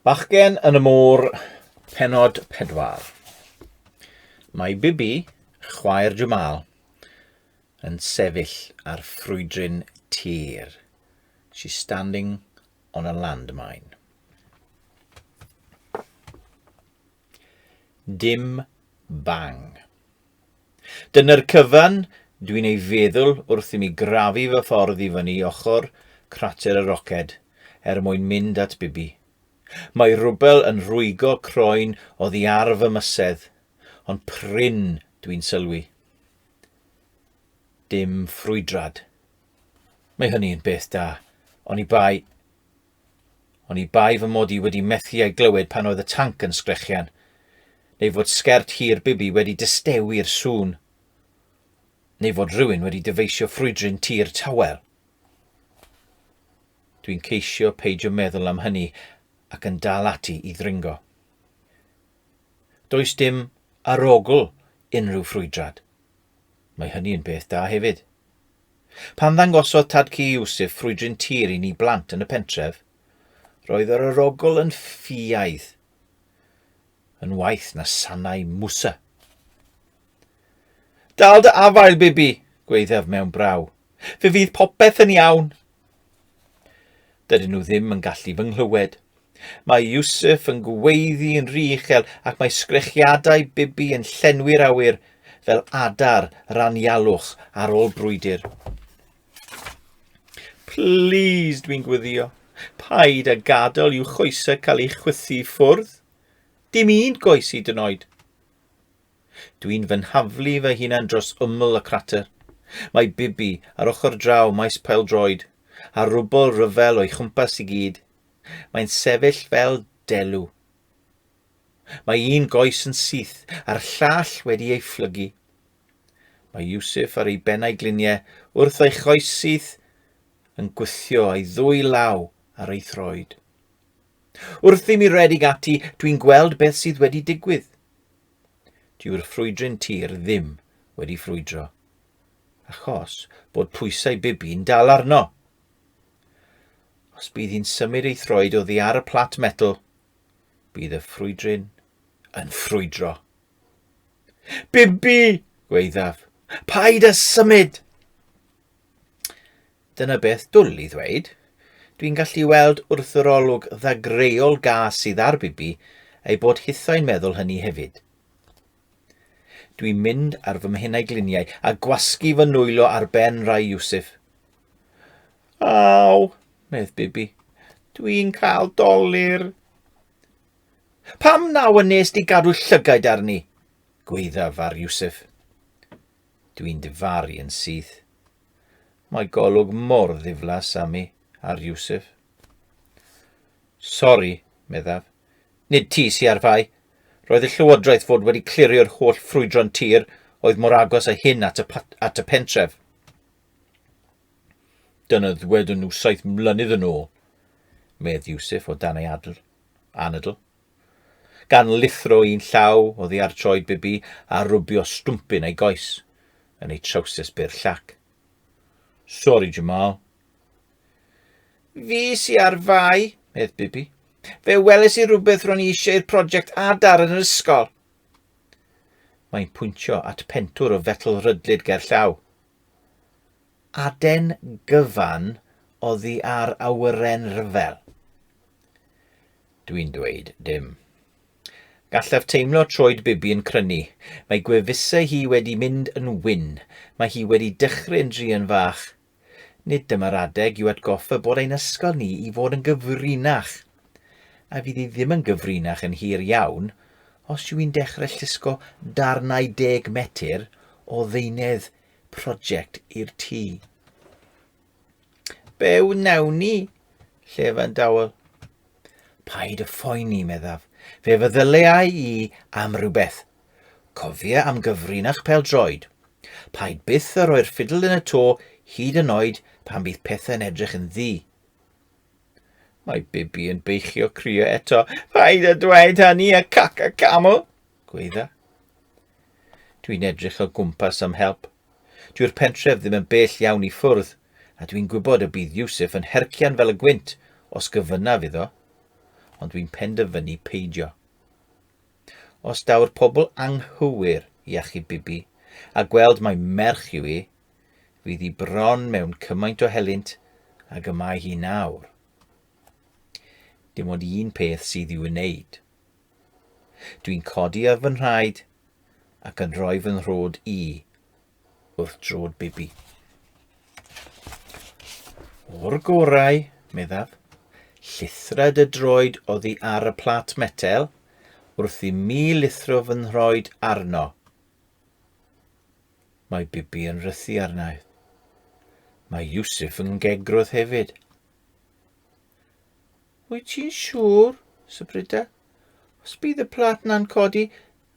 Bachgen yn y môr, penod pedwar. Mae Bibi, chwaer Jamal, yn sefyll ar ffrwydrin tir. She's standing on a landmine. Dim bang. Dyna'r cyfan dwi'n ei feddwl wrth i mi grafu fy ffordd i fyny ochr crater y roced er mwyn mynd at Bibi. Mae rwbel yn rwygo croen oddi ar fy mysedd, ond prin dwi'n sylwi. Dim ffrwydrad. Mae hynny yn beth da, oni bai Oni bai fy mod i wedi methu ei glywed pan oedd y tanc yn sgrechian, neu fod sgert hir Bibi wedi distewi'r sŵn, neu fod rhywun wedi dyfeisio ffrwydrin tir tawel. Dwi'n ceisio peidio meddwl am hynny ac yn dal ati i ddringo. Does dim arogl unrhyw ffrwydrad. Mae hynny yn beth da hefyd. Pan ddangosodd tad cu Iwsif ffrwydryn tir i ni blant yn y pentref, roedd yr arogl yn ffiaidd, yn waeth na sanau mwsa. Dal dy afael, Bibi, gwaethaf mewn braw. Fe fydd popeth yn iawn, Dydyn nhw ddim yn gallu fy nghlywed. Mae Yusuf yn gweiddi yn rhy uchel ac mae sgrechiadau Bibi yn llenwi'r awyr fel adar yr anialwch ar ôl brwydr. Please, dwi'n gwyddio. Paid a gadael i'w choesau cael ei chwythu i ffwrdd. Dim un goes i dynoed. Dwi'n fy nhaflu fy hunan dros ymyl y crater. Mae Bibi ar ochr draw maes pêl-droed, a rwbl ryfel o'i chwmpas i gyd. Mae'n sefyll fel delw. Mae un goes yn syth, a'r llall wedi ei phlygu. Mae Yusuf ar ei bennau gliniau wrth ei choes syth yn gwythio ei ddwy law ar ei throed. Wrth i mi redig ati, dwi'n gweld beth sydd wedi digwydd. Dyw'r ffrwydryn tir ddim wedi ffrwydro, achos bod pwysau bibi'n dal arno. Os bydd hi'n symud ei throed oddi ar y plat metal, bydd y ffrwydryn yn ffrwydro. Bibi! gweithaf. Paid â symud! Dyna beth dwl i ddweud. Dwi'n gallu weld wrth yr olwg ddagreuol gas sydd ar Bibi ei bod hithau'n meddwl hynny hefyd. Dwi'n mynd ar fy mhenau gliniau a gwasgu fy nwylo ar ben rai Iwsif. Aw, medd Bibi, dwi'n cael dolir. Pam naw y nes di gadw llygaid arni? Gweithaf ar Iwsif. Dwi'n difaru yn syth. Mae golwg mor ddiflas am i ar Yusuf. Sori, meddaf. Nid ti sy ar fai. Roedd y llywodraeth fod wedi clirio'r holl ffrwydron tir oedd mor agos a hyn at y, at y pentref. Dyna ddwedwn nhw saith mlynedd yn ôl, medd Yusuf o dan ei adl, anadl. Gan lithro un llaw oddi ar troed Bibi a rwbio stwmpyn ei goes yn ei trowsus byr llac. Sori, Jamal. Fi sy ar fai, medd Bibi. Fe weles i rhywbeth ro'n i eisiau i'r prosiect adar yn yr ysgol. Mae'n pwyntio at pentwr o fetl rydlyd ger llaw. Aden gyfan oddi ar awyren rhyfel. Dwi'n dweud dim. Gallaf teimlo troed Bibi yn crynu. Mae gwefusau hi wedi mynd yn wyn. Mae hi wedi dychryn drian fach. Nid dyma'r adeg i'w atgoffa bod ein ysgol ni i fod yn gyfrinach. A fydd hi ddim yn gyfrinach yn hir iawn os yw hi'n dechrau llusgo darnau deg metr o ddeunydd prosiect i'r tŷ. Be wnawn ni? Llefan dawel. Paid y phoeni, meddaf. Fe feddyleau i am rhywbeth. Cofia am gyfrin a'ch pel droed. Paid byth a rhoi'r ffidl yn y to hyd yn oed pan bydd pethau'n edrych yn ddi. Mae Bibi yn beichio crio eto. Paid a dweud hynny a caca caml, gweidda. Dwi'n edrych o gwmpas am help. Dyw'r pentref ddim yn bell iawn i ffwrdd, a dwi'n gwybod y bydd Yusuf yn hercian fel y gwynt os gyfynnaf iddo, ond dwi'n penderfynu peidio. Os daw'r pobl anghywir i achub Bibi, a gweld mai merch yw i, fydd hi bron mewn cymaint o helynt ag y mae hi nawr. Dim ond un peth sydd i'w wneud. Dwi'n codi ar fy nhraed ac yn rhoi fy nhrod i wrth drod bibi. O'r gorau, meddaf, llithred y droed oddi ar y plat metel wrth i mi lithro fy nhroed arno. Mae bibi yn rhythu arnaeth. Mae Yusuf yn gegrwth hefyd. Wyt ti'n siŵr, Sybrida? Os bydd y plat na'n codi,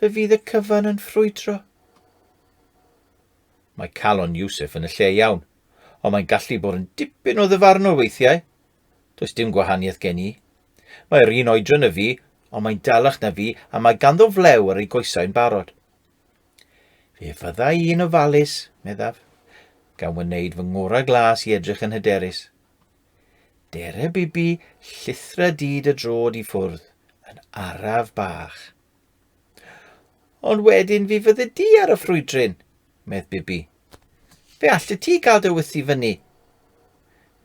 fe fydd y cyfan yn ffrwydro. Mae calon Iwsef yn y lle iawn, ond mae'n gallu bod yn dipyn o ddyfarnwr weithiau. Does dim gwahaniaeth gen i. Mae'r un oedran y fi, ond mae'n dalach na fi a mae ganddo flew ar ei goesau'n barod. Fe fyddai i'n ofalus, meddaf, gan wneud fy ngorau glas i edrych yn hyderus. Dere Bibi llithre dyd y drod i ffwrdd yn araf bach. Ond wedyn fi fydde di ar y ffrwydryn, medd Bibi. Fe allet ti gael dy wyth i fyny.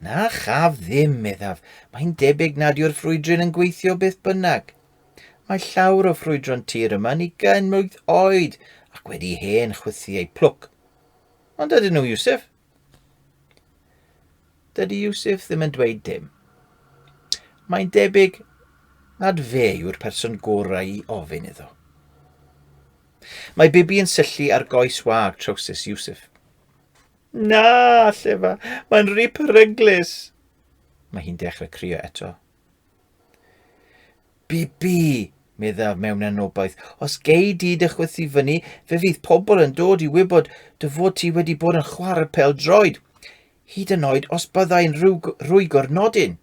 Na chaf ddim, meddaf. Mae'n debyg nad yw'r ffrwydryn yn gweithio beth bynnag. Mae llawr o ffrwydron tir yma ni gyn mlwydd oed ac wedi hen chwythu eu plwc. Ond ydyn nhw, Iwsef? Dydy Yusuf ddim yn dweud dim. Mae'n debyg nad fe yw'r person gorau i ofyn iddo. Mae Bibi yn syllu ar goes wag trowsus Yusuf. Na, llefa, mae'n rhi peryglus. Mae hi'n dechrau crio eto. Bibi, meddaf mewn anobaith, os gei di dy chwythu fyny, fe fydd pobl yn dod i wybod dy fod ti wedi bod yn chwarae pel droed, hyd yn oed os byddai'n rhwygo'r nodyn.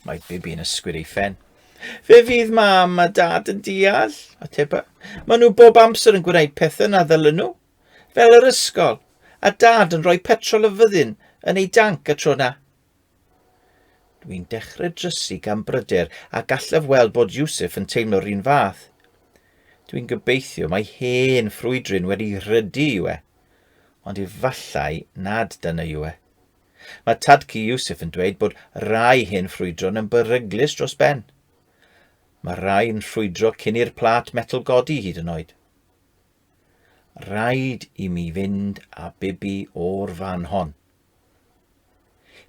Mae Bibi yn ysgwyd ei ffen. Fe fydd mam a dad yn deall, a teba. Maen nhw bob amser yn gwneud pethau na ddylen nhw, fel yr ysgol, a dad yn rhoi petrol y fyddin yn ei danc y tro na. Dwi'n dechrau drysu gan bryder a gallaf weld bod Yusuf yn teimlo'r un fath. Dwi'n gobeithio mae hen ffrwydryn wedi rhydu yw e. Ond efallai nad dyna yw e. Mae tadcu Yusuf yn dweud bod rai hen ffrwydron yn beryglus dros ben. Mae rai yn ffrwydro cyn i'r plat metal godi hyd yn oed. Rhaid i mi fynd a bibi o'r fan hon,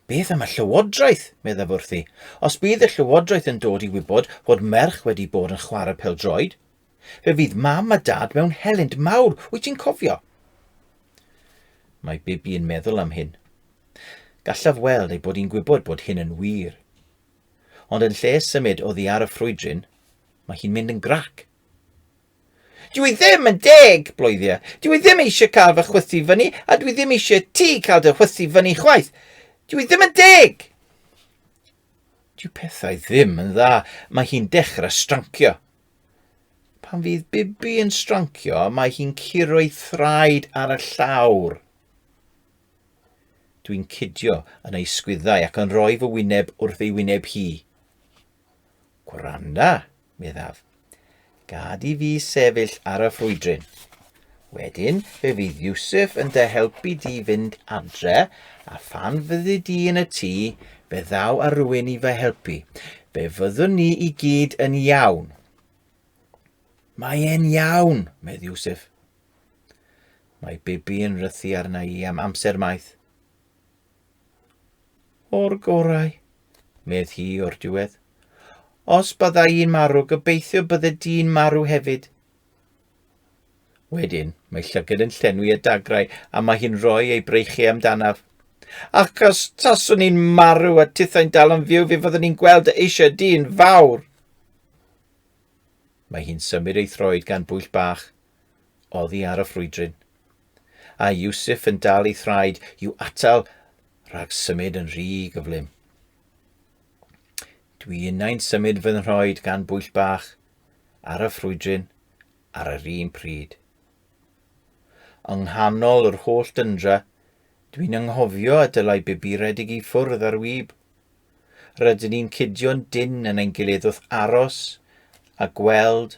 Beth am y llywodraeth, meddaf wrthi. Os bydd y llywodraeth yn dod i wybod fod merch wedi bod yn chwarae pel-droed, fe fydd mam a dad mewn helynt mawr, wyt ti'n cofio? Mae Bibi yn meddwl am hyn. Gallaf weld ei bod hi'n gwybod bod hyn yn wir. Ond yn lle symud oddi ar y ffrwydryn, mae hi'n mynd yn grac. Dw i ddim yn deg, Bloeddia. Dw i ddim eisiau cael fy chwythu fyny, a dw i ddim eisiau ti cael dy chwythu fyny chwaith. Dw i ddim yn deg! Dyw pethau ddim yn dda, mae hi'n dechrau strancio. Pan fydd Bibi yn strancio, mae hi'n curo ei thraed ar y llawr. Dwi'n cydio yn ei sgwyddau ac yn rhoi fy wyneb wrth ei wyneb hi. Gwranda, meddaf. Gad i fi sefyll ar y ffrwydryn. Wedyn, fe fydd Yusuf yn dy helpu di fynd adre, a phan fyddi di yn y tŷ, fe ddaw a rwy'n i fy helpu. Fe fyddwn ni i gyd yn iawn. Mae e'n iawn, medd Yusuf. Mae Bibi yn rhythu arna i am amser maith. O'r gorau, medd hi o'r diwedd. Os byddai i'n marw, gobeithio bydde di'n marw hefyd. Wedyn, mae llygad yn llenwi y dagrau a mae hi'n rhoi ei breichiau amdanaf. Ac os taswn i'n marw a tithau'n dal yn fyw, fe fyddwn i'n gweld dy eisiau di'n fawr. Mae hi'n symud ei throed gan bwyll bach oddi ar y ffrwydryn. A Yusuf yn dal ei thraed i'w atal rhag symud yn rhy gyflym. Dwi innau'n symud fy nhroed gan bwyll bach ar y ffrwydryn ar yr un pryd. Yng nghanol yr holl dyndra, dwi'n ynghofio a dylai bibi redeg i ffwrdd ar wyb. Rydyn ni'n cudio'n dyn yn ein gilydd wrth aros a gweld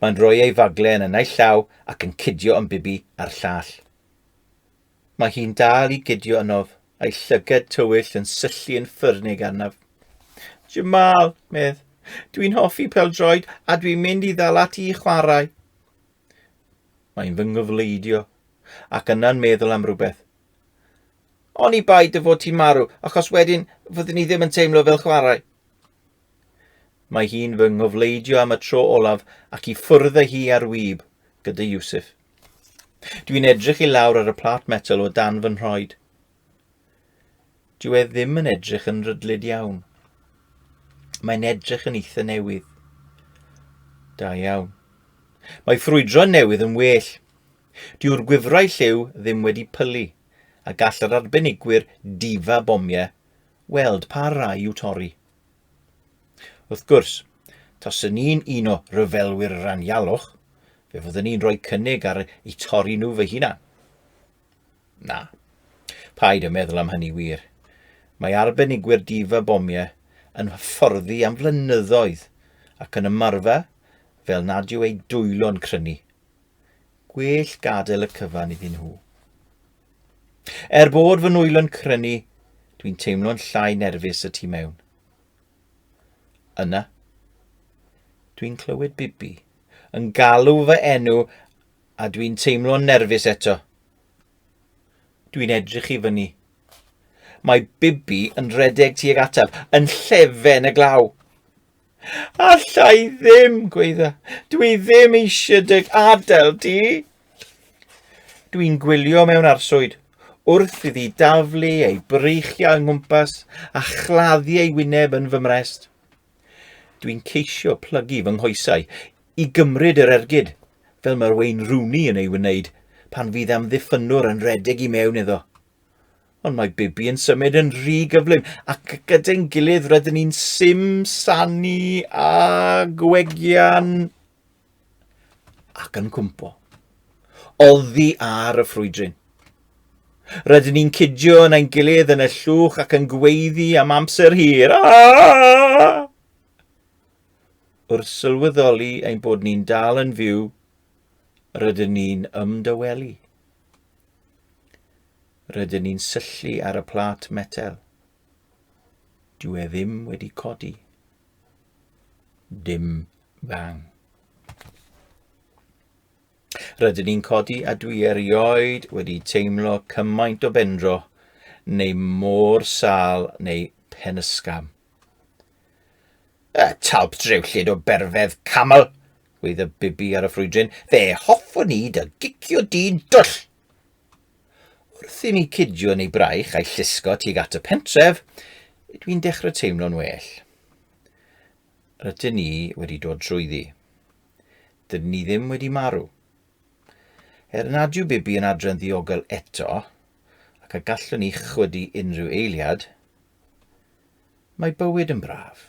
Mae'n rhoi ei fagle yn y naill llaw ac yn cydio yn bibi a'r llall. Mae hi'n dal i gydio ynof, a'i llyged tywyll yn syllu yn ffyrnig arnaf. Jamal, medd, dwi'n hoffi peldroed a dwi'n mynd i ddal ati i chwarae. Mae'n fy nghyfleidio, ac yna'n meddwl am rhywbeth. Oni bai dy fod ti'n marw, achos wedyn fyddwn ni ddim yn teimlo fel chwarae. Mae hi'n fy ngofleidio am y tro olaf ac i ffwrdd â hi ar wib, gyda Yusuf. Dwi'n edrych i lawr ar y plat metal o dan fy nhroed. Dyw e ddim yn edrych yn rydlyd iawn. Mae'n edrych yn eitha newydd. Da iawn. Mae ffrwydro newydd yn well. Dyw'r gwifrau lliw ddim wedi pylu, a gall yr arbenigwyr difa bomiau weld pa rai i'w torri. Wrth gwrs, taswn ni'n un o ryfelwyr ranialwch, fe fyddwn ni'n rhoi cynnig ar eu torri nhw fy hunan. Na, paid y meddwl am hynny wir. Mae arbenigwyr difa bomiau yn hyfforddi am flynyddoedd ac yn ymarfer fel nad yw eu dwylo'n crynu. Gwell gadael y cyfan iddyn nhw. Er bod fy nwylo'n crynu, dwi'n teimlo'n llai nerfus y tu mewn. Yna, dwi'n clywed Bibi yn galw fy enw a dwi'n teimlo'n nerfus eto. Dwi'n edrych i fyny. Mae Bibi yn redeg tuag ataf, yn llefen y glaw. Alla i ddim, gweidda. Dwi ddim eisiau dy adael di. Dwi'n gwylio mewn arswyd, wrth iddi daflu ei breichiau yng nghwmpas a chladdu ei wyneb yn fy mrest. Dwi'n ceisio plygu fy nghoesau i gymryd yr ergyd, fel mae'r Wayne Rooney yn ei wneud pan fydd amddiffynwr yn redeg i mewn iddo. Ond mae Bibi yn symud yn rhy gyflym, ac gyda'n gilydd rydyn ni'n sim sanu a gwegian ac yn cwmpo. Oddi ar y ffrwydryn. Rydyn ni'n cydio yn ein gilydd yn y llwch ac yn gweiddi am amser hir. Aaah! Wrth sylweddoli ein bod ni'n dal yn fyw, rydyn ni'n ymdawelu. Rydyn ni'n syllu ar y plât metel. Dyw e ddim wedi codi. Dim bang. Rydyn ni'n codi a dwi erioed wedi teimlo cymaint o bendro neu môr sal neu pen ysgam. Y talp drewllyd o berfedd camel, gweud y bibi ar y ffrwydryn, fe hoffwn i dy gicio di'n dwll! Wrth i mi cidio yn ei braich a'i llusgo tuag at y pentref, dwi'n dechrau teimlo'n well. Rydyn ni wedi dod trwyddi. Dydyn ni ddim wedi marw. Er nad yw Bibi yn adre'n ddiogel eto, ac a gallwn ni chwydu unrhyw eiliad, Mae bywyd yn braf.